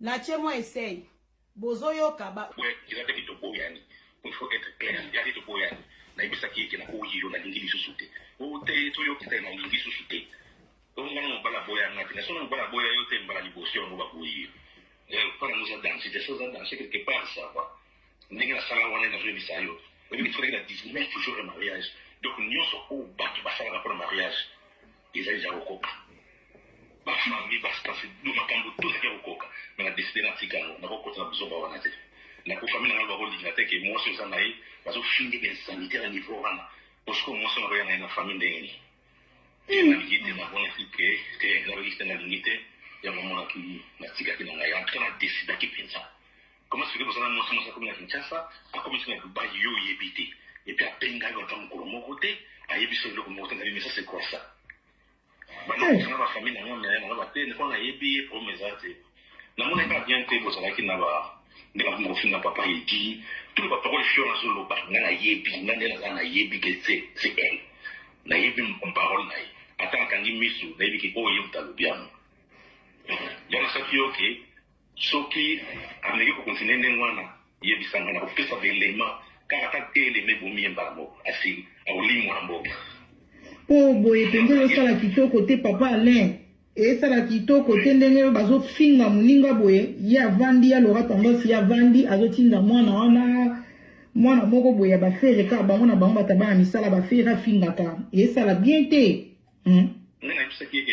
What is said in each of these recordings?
Na ce mwa esei. Bozo yoka ba. Boye eza te ke toboyani. Il faut etre clair. Eza te toboyani. Nayebisaki ye ke naboyi yo, nalingi lisusu te. Oh te, toyoki te, nalingi lisusu te. Bongo nga na mobali aboya nga te. Na soki mobali aboya yo te mbala liboso yango baboyi yo. Eh epa nango eza danse te. Soki eza danse quelque part ça va. Ndenge nasala wana nazo yebisa yo. Oyebi ke tikalaki na 19 jours ya mariage. Donc nionso oyo batu basalaka pona mariage. Eza dejà ko koka. Ba famille ba staff do makambu tout eza ko koka. Mais na decide na tika yango. Na ko kota na buzoba wana te. Na ko famille na ngai ba ko linga te ke muasi oza na ye ba zo fingi ba insanite na niveau wana. Po sikoyo muasi wana ako ya na ye na famille ndenge nini? Te na lingi te na monaki ke te na lingi te na lingi te. Yango omonaki na tikaki na ngai. En tout cas na decidaki penza. Comment se fait-il que Mosana Mwasi Mwasi akomi na Kinshasa, akomi ti na Dubaï, yo oyebi te? Et puis abenga yo ata mokolo moko te, ayebi so eloko moko te na bino, ça c'est quoi ça? Banda kosanga ba famille na nga na nga ba te, niko nayebi ye problème eza te. Namona ka bien te bozalaki na ba ndenge akomi kofinga papa Edi, tout ba parole fior azoloba, nga nayebi, nga nde naza nayebi que c'est c'est elle. Nayebi parole na ye. Ata akangi misu, nayebi ke oyo ye moto alobi yango. Yango nasaki yo ke Soki ameki ko continuer ndenge wana, yebisa nga, nako pesa ba elements kaka ata deux elements ebomi ye mbala moko, asi akolimua na mboka. Po boye penza ezo sala kitoko te papa Alain. Esala kitoko te ndenge bazo finga muninga boye, ye avandi ya Laura tendance ye avandi azo tinda muana wana muana moko boye ya ba ferre kaka bango na bango bata bana misala ba ferre afingaka esala bien te hum. Nga nayebisaki ye ke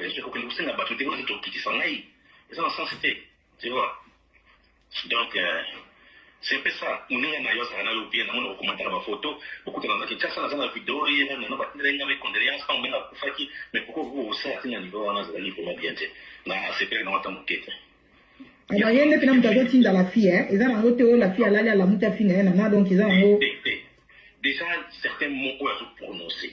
Yesu akokende kosenga bato te oyo tokitisa ngai eza na sense te tu vois donc euh, c'est mpe ça moninga na yo azalaka na yo bien namona kokomataka bafoto bokutana na kinshasa naza na video ye meme nano batindela nga bacondoléance ntango mbenga akufaki mais pourquoi vous osala te na niveau wana azalaki vraiment bien te na asepelaki nango ata moke te naye nde mpena moto azotinda la fille eh? eza nango te oyo la fille alali alamuti afi na ye nana donc eza nango déjà certains mots oyo azoprononce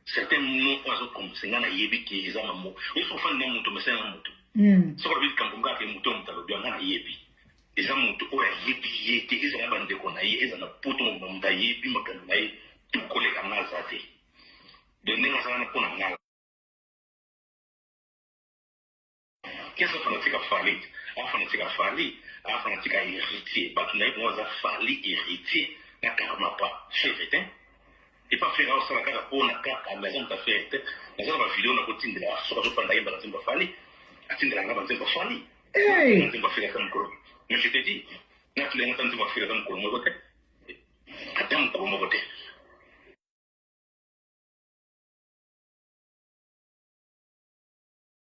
Certain mot oyo azo prononcer nga nayebi ke eza ba mot ye soki ofandi na moto omesani na moto soki alobi likambo moko kaka ke moto ya moto alobi yango nga nayebi eza moto oyo ayebi ye te ezala na bandeko na ye ezala na poto mobimba moto ayebi makambo na ye tu koleka nga aza te de ndenge aza wana mpo na nga Qui aza fanatique ya Fally? Aza fanatique ya Fally, aza fanatique ya Heritier. Batu naye vraiment aza Fally, Heritier na Karmapa. Ferre te. Et pas Ferre azo sala kaka po na kaka mais aza mutu ya Ferre te. Naza na ba video na ko tindela ya soka zo fanda yemba na nzembo ya Fally. Atindela nga ba nzembo ya Fally. Hey! Na nzembo ya Ferre ata mukolo. Mais je te dis, na tulenga ata nzembo ya Ferre ata mukolo moko te. Ata mukolo moko te.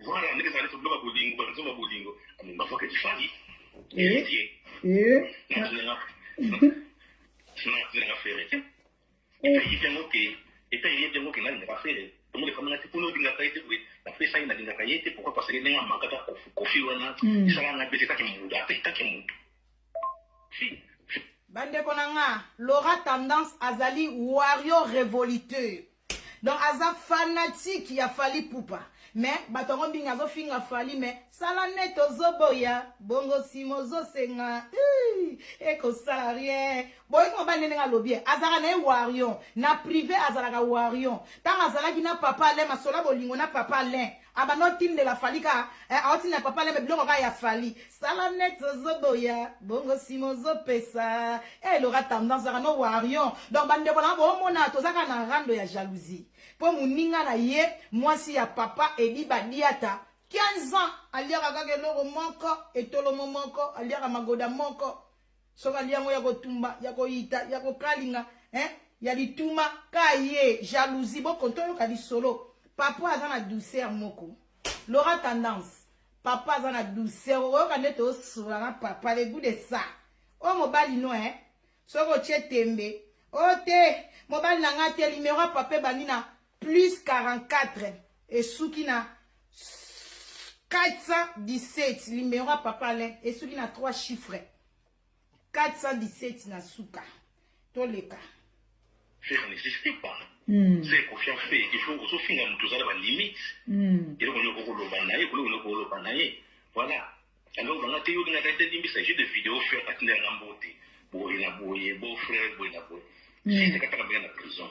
Voilà ndenge ezali toboka bolingo ba nzoma bolingo mais ma voix kifali eh eh na na fere te et puis il yango ke et puis il yango ke na na fere comme le kamana te pour nous dinga kaite oui la pesa ina dinga kaite pourquoi parce que ndenge amaka ta kofi kofi wana sala na bete ta ke muda pe ta ke muda si bandeko na nga laura tendance azali wario révoluteur Donc aza fanatique ya Fally Ipupa mais bato yango mingi azo finga Fally mais sala net ozo boya bongo sima ozo senga eko sala rien boyi ko bande ndenge alobi azalaka na ye warion na prive azalaka warion ntango azalaki na papa Alain masola bolingo na papa Alain abanda otindela fali ka eh, aotindela papa lembe biloko kaka ya fali sala net ozoboya bongo nsima ozopesa e eh, lora tendance ozaka no warion donc bandeko nanga boomona tozaka na rando ya jalousie mpo moninga na ye mwasi ya papa edi badiata 15 ans aliaka kaka eloko moko etolomo moko aliaka magoda moko soki alia yango ya kotumba ya koyita ya kokalinga eh? ya lituma ka ye jalousie boko toyoka lisolo papa aza na douceur moko lora tendance papa aza na douceur okoyoka nde tosola na papa le gout de ça oyo mobali no eh? soki otie tembe o oh, te mobali na ngai te limero ya papa ebandi na plus 44 esuki na 417 numero ya papa alain esuki na 3 chiffre 417 na suka toleka faire n'existe pas mm. se confiant fait il faut ozofinga moto ozala balimite mm. eloko nini okokoloba na ye koloko nini okoloba na ye voilà alors banga te yo lingaka te limbisa jeu de vidéo faire atindelanga mbote boye na boye beau frère boye na boye sise kataka mbele na prison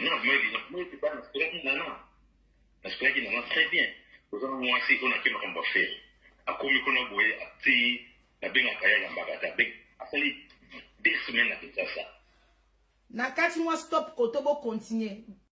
Non, moi, moi, c'est pas nasepelaki nana nasepelaki nana très bien oza na mwasi oyo nake makambo afere akomi kuna boye atii nabengaka ye alambaka te abe asali deux semaine na kinshasa na kati mwa stop koto bokontinue